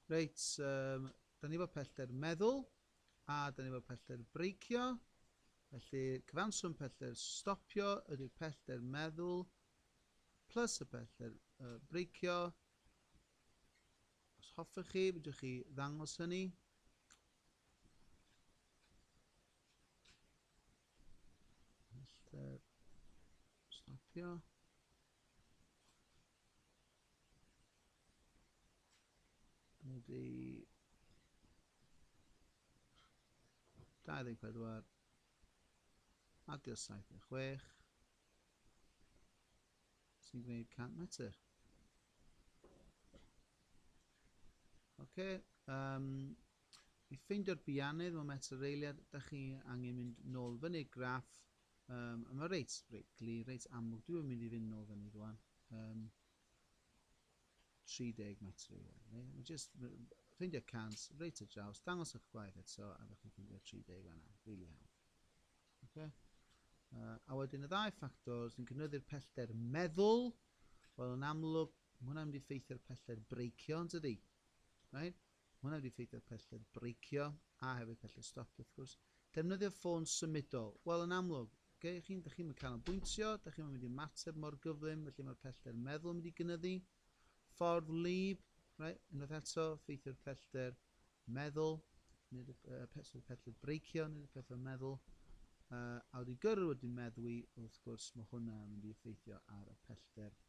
Reit, um, da ni efo pellter meddwl, a da ni efo pellter breicio. Felly, cyfanswm pellter stopio ydy'r pellter meddwl, plus y pellter uh, breicio. Os hoffech chi, fydwch chi ddangos hynny. Pellter stopio. Bloody... 24 adio 76 sy'n gwneud 100 metr. Oce, um, i ffeindio'r biannydd mewn metr reiliad, da chi angen mynd nôl fyny graff Yym, mae reit, reit glir, reit amlwg. Dwi yn mynd i fynd nôl fyny rwan. Yym, 30 metr i ôl. Ne? Mae just ffeindio cant, reit y draws, dangos eich gwaith eto, a ddech chi'n ffeindio 30 fanna. Really hawdd. Okay? Uh, a wedyn y ddau ffactor sy'n cynyddu'r pellter meddwl, wel yn amlwg, mae hwnna'n mynd i ffeithio'r pellter breicio yn tydi. Right? Mae hwnna wedi effeithio ar pellter breicio a hefyd pellter stop wrth gwrs. Defnyddio ffôn symudol. Wel, yn amlwg, okay, chi'n, da chi'm yn canolbwyntio, da chi'm yn mynd i ymateb mor gyflym, felly mae'r pellter meddwl yn mynd i gynyddu. Ffordd wlyb, right, unwaith eto, ffeithio'r pellter meddwl, nid y, uh, pellter breicio, nid y pellter meddwl. Uh, a wedi gyrru wedi meddwi, wrth gwrs, mae hwnna yn mynd i effeithio ar y pellter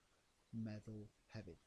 meddwl hefyd.